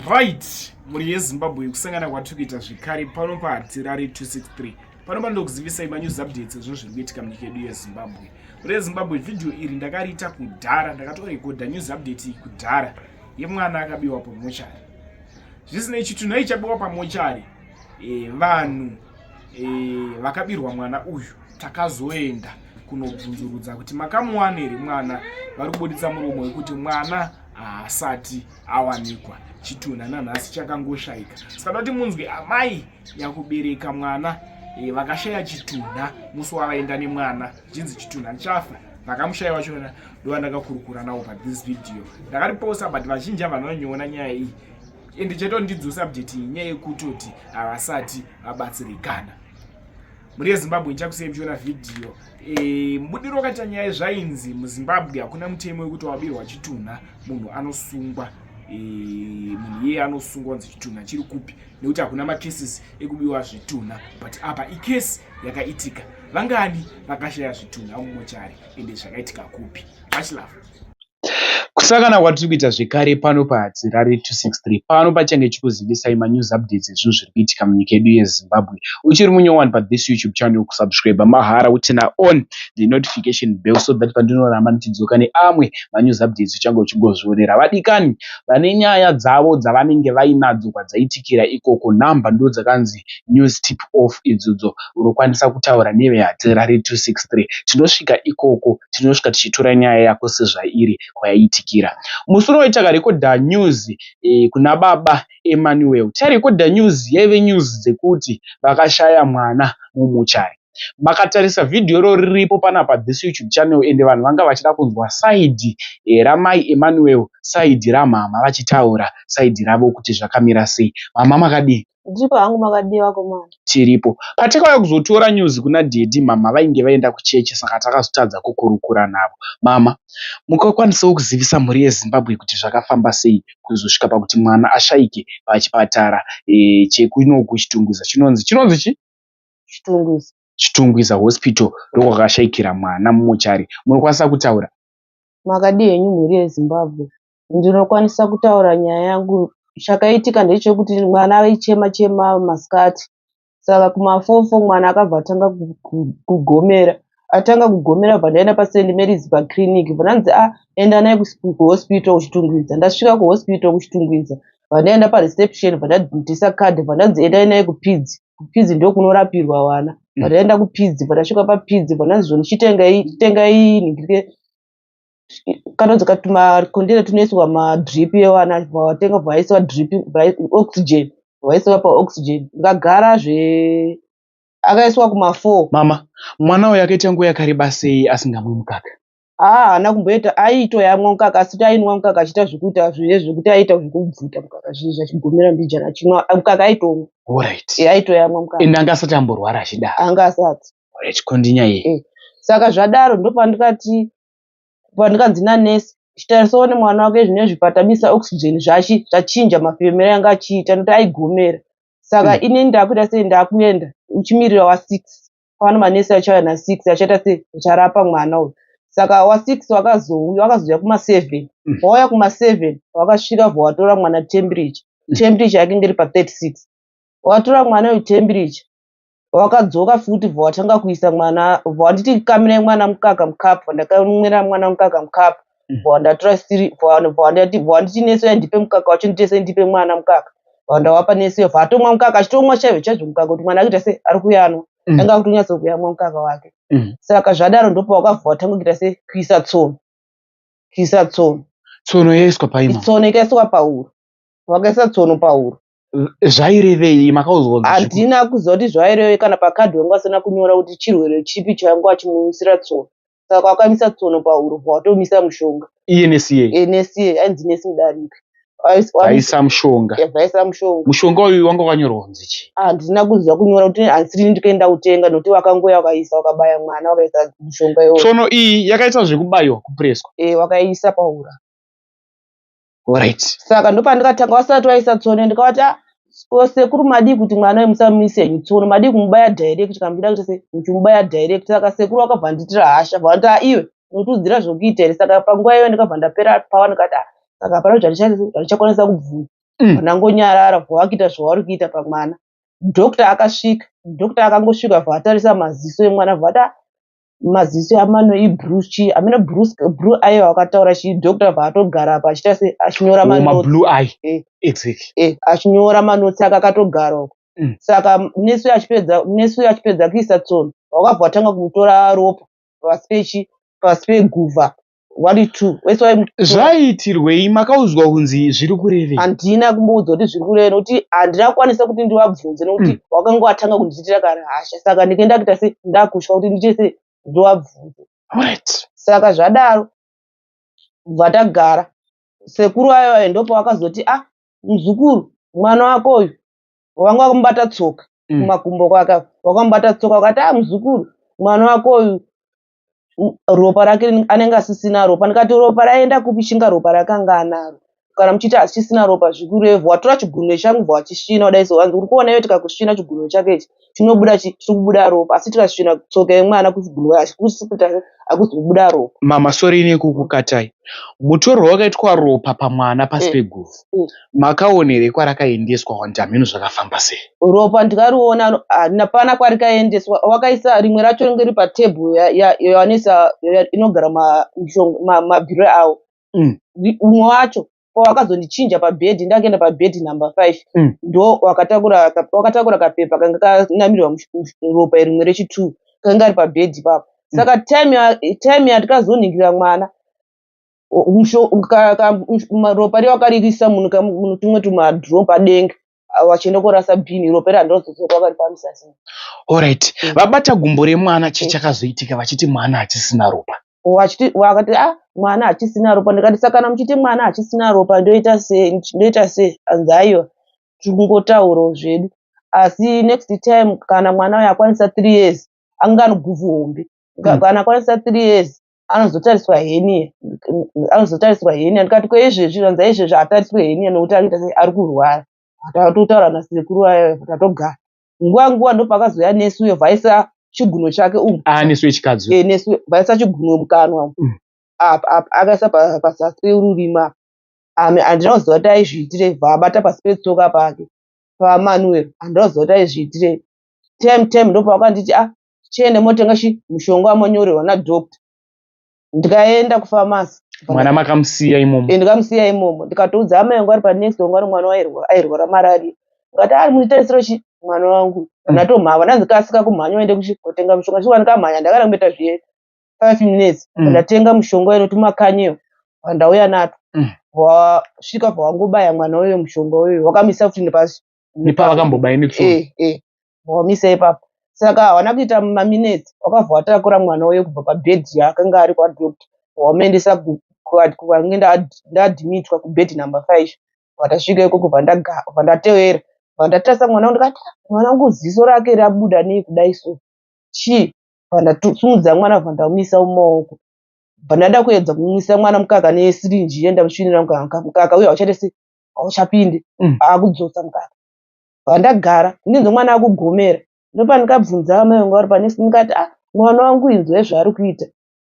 right mhuri yezimbabwe kusangana kwatiri kuita zvekare pano pahatirari 263 pano panokuzivisai manews updates ezvinhu zviri kuitika munyika yedu yezimbabwe mhuri yezimbabwe vhidhiyo iri ndakariita kudhara ndakatorekodha news update iyi kudhara yemwana akabiwa pamochari zvisinei chitunhu aichabiwa pamochari e, vanhu e, vakabirwa mwana uyu takazoenda kunobvunzurudza kuti makamuwana here mwana vari kubuditsa muromo wekuti mwana haasati awanikwa chitunha nanhasi chakangoshaika saka toti munzwi amai nyakubereka mwana e, vakashaya chitunha musi wavaenda nemwana chinzi chitunha chafa vakamushaya wacho ndova ndakakurukura nawo pathis video ndakatiposa but vazhinji avanonyoona nyaya iyi ende chetondidzosa bjeti nyaya yekutoti havasati vabatsirikana mhuri yezimbabwe ichakusei muchiona vhidhiyo e, mubudiro wakaita nyaya yezvainzi muzimbabwe hakuna mutemo wekuti wabirwa chitunha munhu anosungwa e, munhu iyeye anosungwa kunzi chitunha chiri kupi nekuti hakuna makeses ekubiwa zvitunha but apa ikesi yakaitika vangani vakashaya zvitunha mumochari ende zvakaitika kupi vachilava Kusangana kwatiri kuita zvekare pano paHadzirare 263 pano pachange chikuzivisai manews updates ezvinhu zviri kuitika munyika yedu yeZimbabwe. Uchiri munyowani pathis YouTube channel kusubscriber mahara utina on the notification bell so that pandinoramba ndichidzoka neamwe manews updates uchange uchingozvionera. Vadikani vane nyaya dzavo dzavanenge vainadzo kwadzaitikira ikoko number ndo dzakanzi Mozambique, News Tip Off Idzudzo Unokwanisa Kutaura neveHadzira re 263 Tinosvika ikoko tinosvika tichitora nyaya yako sezvairi kwayaitikira Musi unoyo takarekodha news kuna baba Emmanuel Tairekodha news yaive news dzekuti vakashaya mwana mumuchari Makatarisa video iro riripo panapa this YouTube channel ende vanhu vanga vachida kunzwa side ramai Emmanuel side ramhamha vachitaura side ravo kuti zvakamira sei Mhamha makadii? Ndiripo hangu makadii vakomana. Tiripo. Patakauya kuzotora news kuna daddy mhamha vainge vaenda kuchechi saka takazotadza kukurukura navo. Mhamha, mukakwanisawo kuzivisa mhuri yeZimbabwe kuti zvakafamba sei kuzosvika pakuti mwana ashaike pachipatara eh, chekuno kuChitungwiza chinonzi chinonzi chi? Chitungwiza. Chitungwiza Hospital ndokwakashaikira mwana mumochari. Munokwanisa kutaura? Makadii henyu mhuri yeZimbabwe? ndinokwanisa kutaura nyaya yangu. Chakaitika ndechekuti mwana aichema chema masikati saka kuma four four mwana akabva atanga kugomera. Atanga kugomera ndobva ndaenda pa St Mary's pa clinic ndobva vanzi ah enda naye ku hospital ku Chitungwiza. Ndasvika ku hospital ku Chitungwiza ndobva ndaenda pa reception ndobva ndabvisa card ndobva ndanzi endai naye ku PIDZ. Ku PIDZ ndokunorapirwa vana. Ndobva ndaenda ku PIDZ ndobva ndasvika pa PIDZ ndobva ndanzi zvoni chitengai chitengai kanonzi tumacontainer tunoiswa madrip evana vatenga vaisa drip oxygen vaiswa paoxygen ndikagara zve akaiswa kumafour mama mwana uyo akaita nguva yakareba sei asingamwi mukaka haa haana kumboita aitoyamwa mukaka asi kuti ainwa mukaka achiita zvekuita zvine zvekuti aiita zvekubvuta mukaka zvinhu zvachigomera mbijana achinwa mukaka aitomwa orit aitoyamwa mukaka ende anga asati amborwara achidaro anga asati orit kondinyaya iyi eh. saka zvadaro ndopandikati Ndikanzi nanurse chitarisawo nemwana wake zvinezvi patamisa oxygen zvachi zvachinja mafemero anga achiita nekuti aigomera saka mm. inini ndakuita sei ndakuenda uchimirira wa six pano manurse achauya na six achaita sei acharapa mwana uyu saka wa six wakazouya wakazouya kuma seven mm. wauya kuma seven wakasvika bva watora mwana temperature mm. temperature yake ngeri pa thirty six watora mwana uyu temperature wakadzoka futi bva watanga kuisa mwana bva wanditi kamirai mwana mukaka mukapu bva ndakamwira mwana mukaka mukapu Mm. bva wandatora siri bva wan- bva wandati- bva wanditi nesoya ndipe mukaka wacho nditese ndipe mwana mukaka bva wandawapa nesoya bva atomwa mukaka achitomwa chaizvo chaizvo mukaka kuti mwana akuita se ari kuyanwa Mm. anga akutonyatso kuyamwa mukaka wake Mm. saka zvadaro ndopa wakabva watanga kuita se kuisa tsono kuisa tsono tsono yaiswa paima tsono ikaiswa pahuro wakaisa tsono pahuro zvairevei makaudzwa handina kuziva kuti zvairevei kana pakadhi wangu asina kunyora kuti chirwere chipi chainge achimumisira tsono saka kwakamisa tsono pahuro bvawatomisa mushonga ensa ensa ainzi nesi mudariki vaisa mushonga vaisa mushonga mushonga uyu wanga wakanyorwa kunzi chi handina kuziva kunyora kuti hansirini ndikaenda kutenga nokuti vakangoya vakaisa vakabaya mwana vakaisa mushonga iwo tsono iyi yakaita zvekubayiwa kupreswa e eh, vakaisa pahura Alright. Saka ndopandikatanga wasati waisa tsono ndikavati ah, oh, sekuru madii kuti mwana uyu musamuise henyu tsono madii kumubaya direct kana muchida kuita sei muchimubaya direct saka sekuru vakabva vandiitira hasha bva vanti ah, iwe unotiudzira zvekuita here saka panguva iyoyo ndikabva ndapera pawa ndikati ah, saka hapana kuti handichakwanisa kubvuma Mm. ndangonyarara bva wakuita zvauri kuita pamwana doctor akasvika doctor akangosvika bva atarisa maziso emwana bva vati ah, maziso amano ibrue chii amene brue ayo akataura chii doctor paatogara apa achita se achinyora mablue eye eh. exactly eh, achinyora manotsi aka akatogara uko mm. saka nesu achipedza nesu achipedza kuisa tsono wakabva watanga kumutora ropa pasi pechi pasi peguva wari two wese waimutora zvaiitirwei makaudzwa kunzi zviri kurevei handina kumboudzwa kuti zviri kurevei nokuti handina kukwanisa kuti ndivabvunze nokuti wakanga watanga kundiitira kana hasha saka ndinge ndakuita se ndakutya kuti ndiite se ndivabvunze Alright. saka zvadaro bva tagara sekuru vayo vayo ndopa vakazoti a muzukuru mwana wako uyu wanga wakamubata tsoka Mm. kumakumbo kwake apo, wakamubata tsoka wakati a muzukuru mwana wako uyu ropa rake anenge asisina ropa ndikati ropa raenda kupi chinga ropa rakanga anaro kana muchiti hachisina ropa zvikurevhu watora chigunwe changu bva wachisvina kudai so hanzi uri kuona iwe tikakusvina chigunwe chake ichi chinobuda chiri kubuda ropa asi tikasvina tsoka yemwana kuchigunwe achikusiputa hakuzi kubuda ropa mama sori ine kukukatai mutorwa wakaitwa ropa pamwana pasi eh, peguvu eh. Makaona here kwarakaendeswa want hameno zvakafamba sei. Ropa ndikariona hapana kwarikaendeswa wakaisa rimwe racho ringe riri patable yavanoisa inogara mabhiro awo mm. umwe wacho pawakazondichinja pabed ndakaenda pabed number five mm. ndo wakatakura kapepa kanga kanamirwa ropa rimwe rechitwo kanga kari pabed ipapo mm. saka time yatikazoningira mwana ropa riya wakaririsa munhu kamunhu tumwe tumadro padenga vachienda korasa bhini ropa iri handozozora vari pamisasi orit mm. vabata gumbo remwana chii mm. chakazoitika vachiti mwana hachisina ropa vachiti vakati a ah, mwana hachisina ropa ndikati sakana muchiti mwana hachisina ropa ndoita sei ndoita sei anzi aiwa tiri kungotaurawo zvedu asi next time kana mwana uyo akwanisa three years anganoguvhu hombe mm. kana akwanisa three years anozotariswa henie anozotariswa henie ndikati kweizvezvi ranza izvezvi atariswe henie nokuti akuita sei ari kurwara tatotaura nasekuru ayo tatogara nguva nguva ndopakazoya nesu uyo vaisa chiguno chake umu ah, nesu yechikadzi eh, nesu vaisa chiguno mukanwa mm. apa apa akaisa pazasi peururima ami handina kuziva kuti aizviitire vaabata pasi petsoka pake pamanuel handina kuziva kuti aizviitire tem tem ndopavakanditi a ah, tiende motenga chi mushonga wamonyorerwa nadoctor ndikaenda kufamasi mwana makamusiya imomo eh, ndikamusiya imomo ndikatoudza amai yangu ari panext wangu ari mwana airwara mararia ukati ari muitarisiro chi mwana wangu mm. natomhava ndanzi kasika kumhanya uende kutenga mushonga chikuva ndikamhanya ndakada kumboita zviye five minutes mm. ndatenga mushonga uyo nokuti makanyiyo pandauya nato mm. vasvika pawangobaya mwana uyo mushonga uyo wakamisa futi nepasi nepavakambobaini tsu eh, eh. wamisa ipapo saka hawana kuita maminetsi wakabva watakura mwana uye kubva pabhedhi yaakanga ari kwadoctor wamaendesa kwange ndadhimitwa kubhedhi number five vatasvika ikoko vandatevera vandatarisa mwana ndikati mwana wangu ziso rake rabuda nei kudai so chii vandasimudza mwana vandamisa mumaoko vandada kuedza kumisa mwana mukaka nesirinji ye ndamusvinira mukaka uye hauchatese hauchapindi mm. akudzosa mukaka vandagara ndinzi mwana akugomera ndopandikabvunza amai vangu vari panesi ndikati ah mwana wangu inzwai zvaari kuita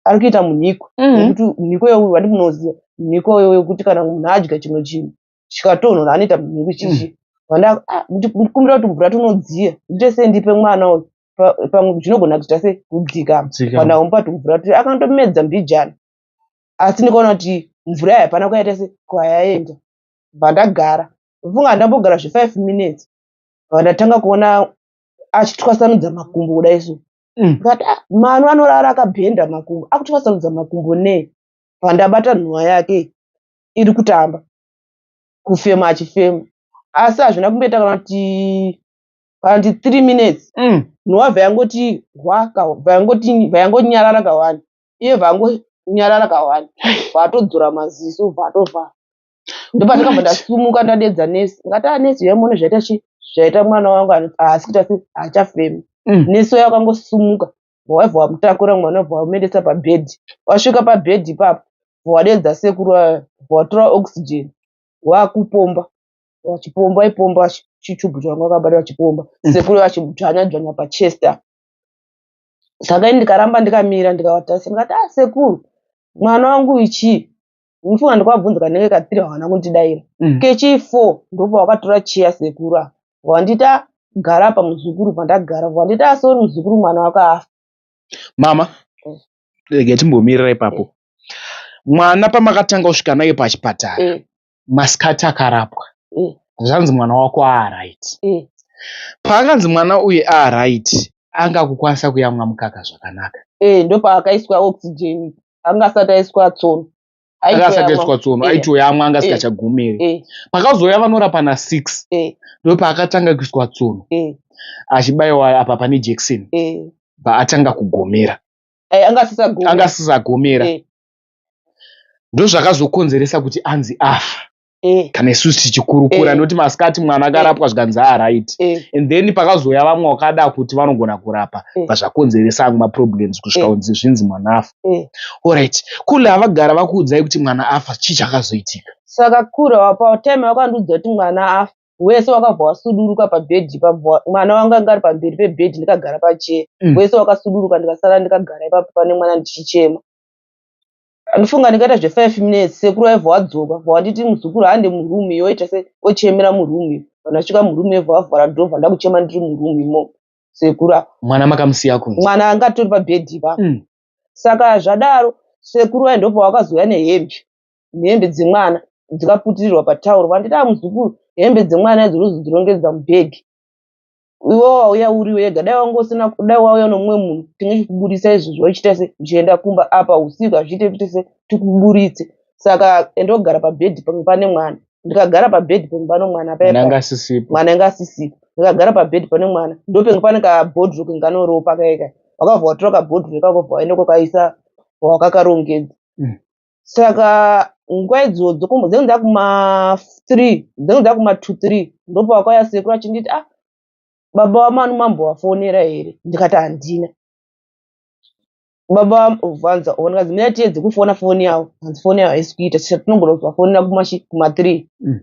ari kuita munhiko mm. nekuti munhiko yeuyu wandi munoziva munhiko yo wekuti kana munhu adya chimwe chinhu chikatonhora anoita munhiko chichi mm. vandandikumbira kuti mvura tinodziya ndite sei ndipe mwana uyu pamwe zvinogona kuita sei kudzika kana umupa tumvura tu akandomedza mbijana asi ndikaona kuti mvura yayo hapana kwayaita se kwayaenda bva ndagara mfunga ndambogara zvefive minutes bva ndatanga kuona achitwasanudza makumbo kudai so mm. but ah, manu anorara akabhenda makumbo akutwasanudza makumbo nei bva ndabata nhunha yake iri kutamba kufema achifema asi hazvina kumboita kana kuti panti three minutes mm. nhova yangoti hwa vayangonyarara kawani iye vangu nyarara kawani vatodzora maziso vatovhara ndopandakabva ndasumuka ndadedza nesi ngati anesi yaimone zvaita chi zvaita mwana wangu haasi kuita se haachafemi mm. nesi waya wakangosumuka waibva wamutakura mwana wabva wamuendesa pabhedhi wasvika pabhedhi ipapo wadedza sekuru watora oxygen wakupomba wachipomba ipomba chichubu changa wakabata wachipomba mm. sekuru vachimudzvanya dzvanya pachester saka ini ndikaramba ndikamira ndikavatarisa ndikati ah sekuru mwana wangu ichii ndifunga ndikuvabvunza kanenge katiri havana kundidaira mm. kechii four ndopa wakatora chiya sekuru apa wandita gara apa muzukuru pandagara wandita asori ah, muzukuru mwana wako afa mama mm. rega timbomirira ipapo mm. mwana pamakatanga kusvika naye pachipatara mm. masikati akarapwa mm. zvanzi mwana wako aaright mm. paakanzi mwana uyu aaright anga kukwanisa kuyamwa mukaka zvakanaka e, eh, ndopaakaiswa oxygen anga asati aiswa tsono akasakaiswa tsono eh. aitoyamwa anga sikachagumiri eh. pakazouya vanorapa na six ndopaakatanga kuiswa tsono achibayiwa apa pane jekiseni paatanga kugomera anga asisagomera ndozvakazokonzeresa kuti anzi afa eh. kana isusu tichikurukura eh. noti masikati mwana eh. akarapwa zvikanzi aaright ah, eh. and then pakazouya vamwe wakada kuti vanogona kurapa eh. vazvakonzeresa angu maproblems kusvika kunzi eh. zvinzi mwana afa eh. allright kule havagara vakuudzai kuti mwana afa chii chakazoitika saka kura wapa time wakandiudza kuti mwana afa wese wakabva wasuduruka pabhedhi mwana wangu anga ari pamberi pebhedhi ndikagara pachee mm. wese wakasuduruka ndikasara ndikagara ipapo pane mwana ndichichema Andifunga ndikaita zve five minutes sekuru aibva wadzoka bva wanditi muzukuru hande muroom iyo oita se ochemera muroom iyo vanhu vasvika muroom iyo bva vavhara door bva ndakuchema ndiri muroom imo sekuru apa mwana makamusiya kunzi mwana anga atori pabed ipa mm. saka zvadaro sekuru vaye ndopavakazouya nehembe nehembe dzemwana dzikaputirirwa patauro vanditi a ah, muzukuru hembe dzemwana idzo unozodzirongedza mubhegi iwe wauya uri wega dai wanga usina dai wauya nomumwe munhu tinge chikuburitsa izvi zvochita se zvichienda kumba apa usiku hazviite kuite se tikuburitse saka endogara pabhedhi pamwe pane mwana ndikagara pabhedhi pamwe pano mwana paanga asisipo mwana anga asisipo ndikagara pabhedhi pane mwana ndopenge pane kabhodhiro kenganoropa kaika wakavha watora kabhodhiro ikako vaende kwakaisa wakakarongedza mm. saka nguva idzo dzokombo dzinenge dzakuma three dzinenge dzakuma two three ndopawakauya sekuru achinditi ah baba wamanu mambovafonera here ndikati handina baba vanza ona kazi mira tiedze kufona foni yavo hanzi foni yavo haisi kuita saka tinogona kuvafonera kumashi kuma three mm.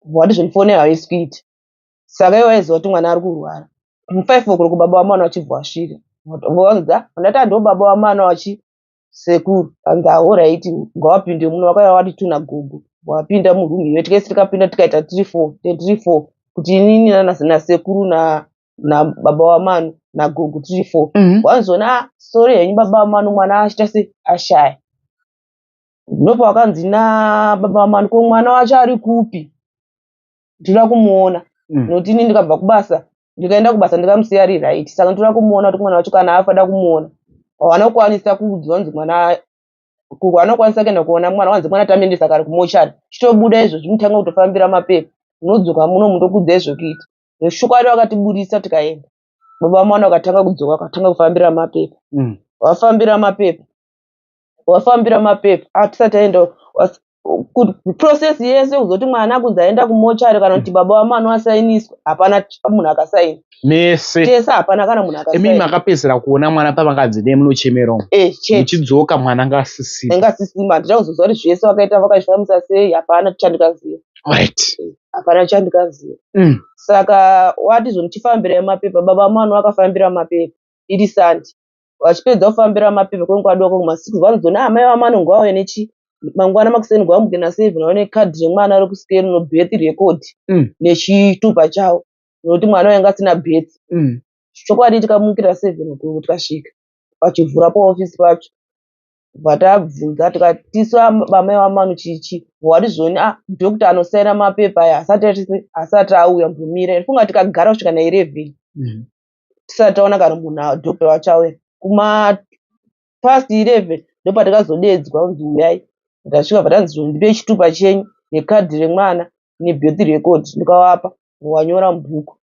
vati zvoni foni yavo haisi kuita saka ivo vaiziva kuti mwana ari kurwara mufive o'clock baba wamwana vachibva vasvika vanza ndati handiwo baba wamwana vachi sekuru and the whole right ngawapinde muno vakauya vati tuna gogo wapinda muroom iwe tikaisi tikapinda tikaita three four three four kuti inini nasekuru na nababa wamanu nagogo three four mhm. wanzona ah, sorry henyu baba wamanu mwana achiita se ashaya ndopa wakanzi nababa wamanu ko mwana wacho ari kupi ndinoda kumuona mm. nokuti ini ndikabva kubasa ndikaenda kubasa ndikamusiya ari right saka ndotoda kumuona kuti mwana wacho kana afada kumuona wanokwanisa kuudzwa kunzi mwana wanokwanisa kuenda kuona mwana wanzi mwana tamendesa kari kumochari chitobuda izvo chimutanga kutofambira mapepa munodzoka muno mundokudza izvo kuita neshukwadi wakatiburisa tikaenda baba mwana wakatanga kudzoka wakatanga kufambira mapepa mm. wafambira mapepa wafambira mapepa atisati ah, aenda process yese kuzoti mwana kunzi aenda kumochari kana kuti baba wamwana wasainiswa hapana munhu akasaina mese tese hapana kana munhu akaimi makapedzisira kuona mwana pavanganzi ne munochemera eh, muchidzoka mwana ngasisima ngasisima handina kuzoziva kuti zvese vakaita vakazvifambisa sei hapana chandikaziva right eh, hapana chandikaziva mm. saka wati zvomuchifambira mapepa baba wamwana wakafambira mapepa iri sandi vachipedza kufambira mapeve kwenguva doko kumasiku vanozoona amai vavo vanongo vauya nechi mangwana makuseni kwamuke naseven vaone kadhi remwana rekusikero nobirth record mm. nechitupa chavo nokuti mwana wainge asina birth mm. chokwadi tikamukira seven okuku tikasvika pachivhura paofisi pacho vatabvunza tikati tisu vamai vamanu chichi wati zvoni a ah, dokta anosaira mapepa aya asati asati auya mbumira funga tikagara kusvika nairevheni mm. tisati taona kana munhu adhope vachauya kuma past 11 ndopatakazodeedzwa kunzi uyai ndasvika vatanzi ndipe chitupa chenyu nekadhi remwana nebirth record ndikavapa wanyora mubhuku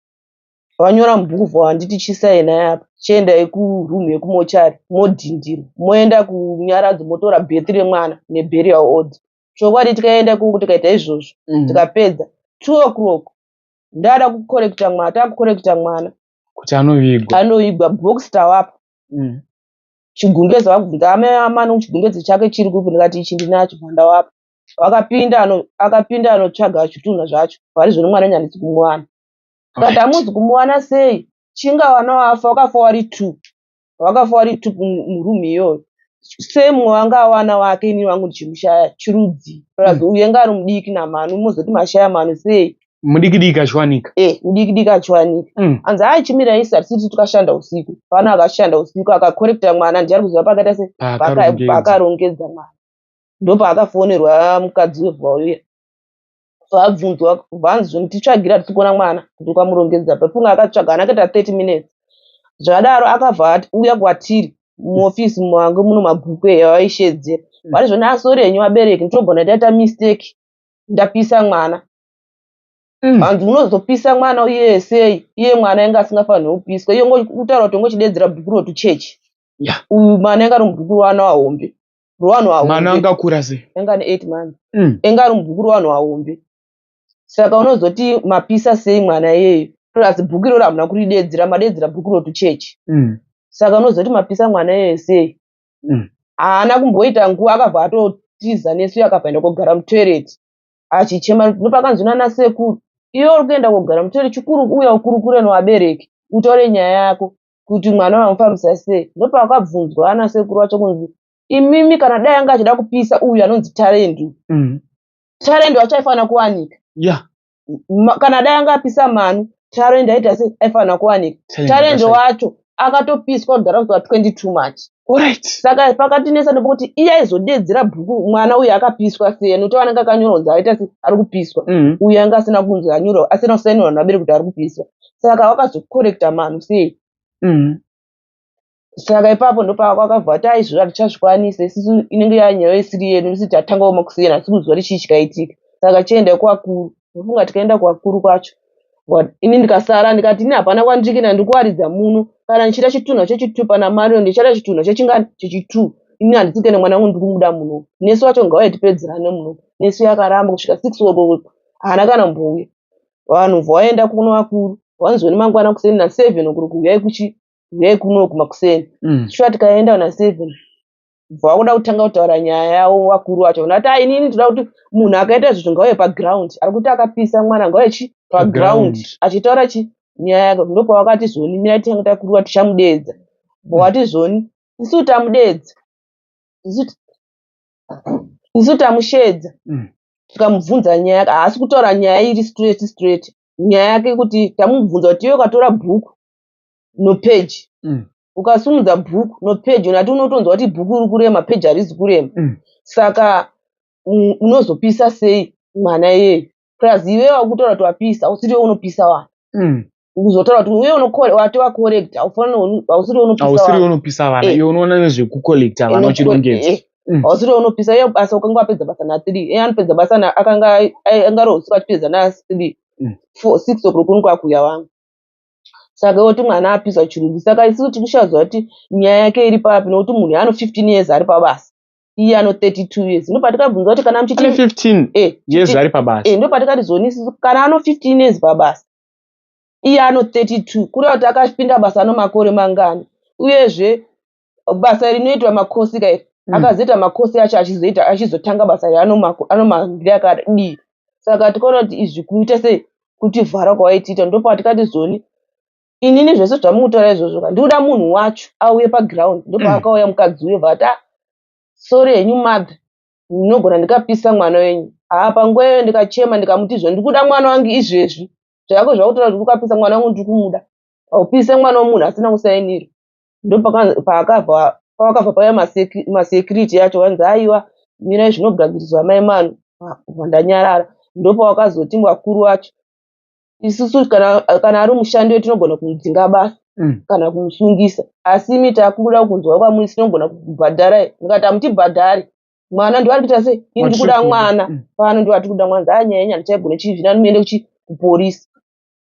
vanyora mubhuku for handiti chisaina yapa chiendai kuroom yekumochari modhindira moenda kunyaradzo motora birth remwana neburial order chokwadi tikaenda kungu tikaita izvozvo mm. tikapedza two o'clock ndada kukorekita mwana takukorekita mwana kuti anovigwa anovigwa box tawapa mm. chigumbeze wakubvunza amai amano chigumbeze chake chiri kupi ndikati ichi ndinacho mwana wapa wakapinda akapinda anotsvaga zvitunha zvacho pari zvino mwana nyandisi kumuwana kati hamuzi kumuwana sei chinga wana wafa wakafa wari two vakafa vari tupu muroom iyoyo same wanga awana wake ini wangu ndichimushaya chirudzi plus mm. uye nga ari mudiki namanu mozoti mashaya manu sei mudikidiki achiwanika e eh, mudikidiki achiwanika mm. anzi haa chimira isi hatisiti tukashanda usiku pano akashanda usiku akakorekta mwana ndiari kuziva pakaita se paakarongedza mwana ndopaakafonerwa mukadzi wevauya vabvunzwa vanzi titsvagira tisi kuona mwana kuti ukamurongedza pafunga akatsvaga ana akaita 30 minutes zvadaro akabva ati uya kwatiri muofisi mange muno mabhuku eya vaishedzera mm. vari zvona asori henyu vabereki nditogona taita mistake ndapisa mwana mm. hanzi unozopisa mwana uye sei iye mwana ainge asingafanire kupiswa iye kutaura kuti ongechidedzera bhuku rotuchechi uyu mwana ainge ari mubhuku roana wahombe rowanhu ahombe mwana anga akura sei anga ane 8 months mm. anga ari mubhuku rowanhu ahombe saka unozoti mapisa sei mwana iyeyo plus bhuku iroro hamuna kuridedzera madedzera bhuku rotu chechi mm. saka unozoti mapisa mwana iyeyo sei mm. haana mm. kumboita nguva akabva atotiza nesu akabvaenda kogara mutoilet achichema ndopakanzi nana sekuru iyo uri kuenda kogara mutoilet chikuru uya ukurukure novabereki utaure nyaya yako kuti mwana vamufambisa sei ndopavakabvunzwa ana sekuru vacho kunzi imimi kana dai anga achida kupisa uyu anonzi tarendi mm. tarendi wacho aifanira kuwanika yeah. kana dai anga apisa manu tarendi aita se aifanira kuwanika tarendi wacho akatopiswa kudhara kuva 22 march Alright. Saka pakatinetsa nekuti iye aizodeedzera bhuku mwana uyu akapiswa sei nekuti anenge akanyora kunzi aita se ari kupiswa mm. uyu anga asina kunzi anyora asina kusainirwa navabere kuti ari kupiswa saka wakazokorekta manhu sei mm. saka ipapo ndopakakabva ati aizvira tichazvikwanisa isisu inenge yanyaya isiri yedu isi tatanga woma kusiyana asi kuzuva richii chikaitika saka chienda kuvakuru ndofunga tikaenda kuvakuru kwacho ini ndikasara ndikati ini hapana kwandiri kuenda ndiri kuwaridza muno kana ndichiita chitunha chechitu pana marion ndichaita chitunha chechingani chechitu ini handisi kuenda mwana wangu ndiri kumuda muno nesu wacho ngauye tipedzerane muno nesu yakaramba kusvika six o'clock haana kana mbouya vanhu vaenda kuno vakuru vanzweni mangwana kuseni naseven okuri kuuyai kuchi uyai kuno kumakuseni mm. shuwa tikaenda naseven bva wakuda kutanga kutaura nyaya yavo vakuru vacho vana kuti inini ndinoda kuti munhu akaita zvinhu ngauye paground ari kuti akapisa mwana ngauye chi paground achitaura chi nyaya yake ndopavakati zoni mirai titange takurura tichamudeedza bwawati zoni isu tamudeedza isu tamusheedza mm. tikamubvunza nyaya yake haasi kutaura nyaya iri straight straight nyaya yake kuti tamubvunza kuti iwe ukatora bhuku nopeji mm. ukasimudza book nopage unati unotonzwa kuti book iri kurema page harizi kurema mm. saka mm, unozopisa sei mwana iyeyo plus iwe wakutaura kuti wapisa usiri we unopisa wani mm. ukuzotaura kuti uye wati wacollect ausiri we unopisa vana eh. iwe unoona nezvekucollecta vana uchirongedza eh, eh. ausiri we unopisa iye basa ukanga wapedza basa nathree iye anopedza basa akanga angarohusiku achipedza nathree six o'clock unikwakuya wangu saka oti mwana apisa chirunzi saka isisu tikushazwa kuti nyaya yake iri papi nokuti munhu ano 15 years ari pabasa iye ano 32 years ndo patikabvunza kuti kana muchiti 15 eh, years ari pabasa eh, ndo patikati zoni isisu kana ano 15 years pabasa iye ano 32 kureva kuti akapinda basa ano makore mangani uyezve basa rinoitwa makosi ka iri mm. akazoita makosi acho achizoita achizotanga basa iri anomahambire akadii saka tikaona kuti izvi kuita sei kutivhara kwawaitiita ndopatikati zoni inini zvese zvamukutaura izvozvo ka ndikuda munhu wacho auye paground ndopaakauya mm. mukadzi uyo vata ah, sori henyu mother ndinogona ndikapisa mwana wenyu haa panguva iyoyo ndikachema ndikamuti izvo ndikuda mwana wangu izvezvi zvako zvakutaura kuti ukapisa mwana wangu ndiri kumuda aupise mwana wemunhu asina kusainira ndopakabva pavakabva paya masecurity yacho vanzi aiwa mirai zvinogadziriswa mai manu ndanyarara ndopavakazoti vakuru vacho isusu kana, kana ari mushandi wedu tinogona kumudzinga basa mm. kana kumusungisa asi imi takuda kunzwa kwamuri tinogona kubhadharai ndikati hamutibhadhari mwana ndivari kuita sei ini ndikuda mwana mm. pano ndivari tikuda mwana zaa nyaya nyana chaigona chii zvina ndimuyende kuchi kuporisi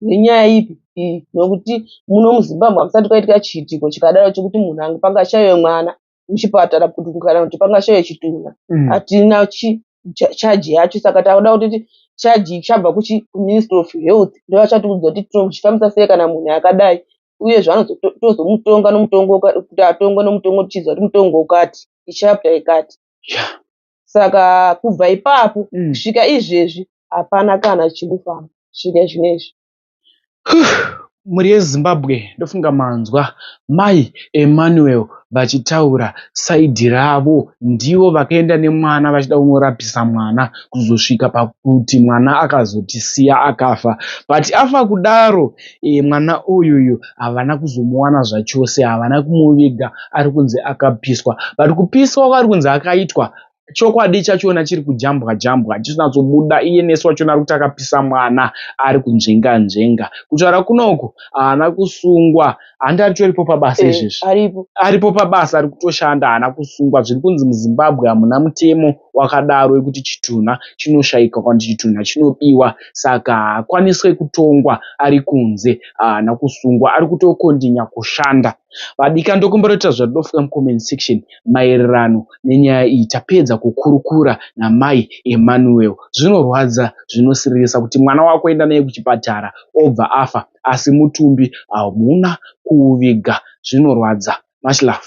nenyaya ipi iyi nokuti muno muzimbabwe hakusati kwaitika chiitiko chikadaro chekuti munhu ange pangashaiwe mwana muchipatara kuti kana kuti pangashaiwe chitunha mm. hatina chaji yacho saka takuda kuti chaji ichabva kuministry of health ndovachatiudza kuti tinochifambisa sei kana munhu akadai uye zvanotozomutonga nomutongo kuti atongwe nomutongo tichiziva kuti mutongo ukati ichapta ikati yeah. saka kubva ipapo mm. kusvika mm. izvezvi hapana kana chiri kufamba kusvika zvinezvi mhuri yezimbabwe ndofunga manzwa mai emmanuel vachitaura saidhi ravo ndivo vakaenda nemwana vachida kunorapisa mwana kuzosvika pakuti mwana akazotisiya akafa but afa kudaro e, mwana uyuyu havana kuzomuwana zvachose havana kumuviga ari kunzi akapiswa but kupiswa kwari kunzi akaitwa chokwadi chachona chiri kujambwa jambwa chisinatsobuda iye nesu wachona ari kuti akapisa mwana ari kunzvenga nzvenga kutaura kunoko haana kusungwa handi aritoripo pabasa eh, izvezvi aripo pabasa ari kutoshanda haana kusungwa zviri kunzi muzimbabwe hamuna mutemo wakadaro wekuti chitunha chinoshaika kana kuti chitunha chinobiwa saka haakwaniswe kutongwa ari kunze haana kusungwa ari kutokondinya kushanda vadika ndokumbotoita zvadofuka mucomment section maererano nenyaya iyi tapedza kukurukura namai emmanuel zvinorwadza zvinosiririsa kuti mwana wako enda naye kuchipatara obva afa asi mutumbi hauna kuuviga zvinorwadza much love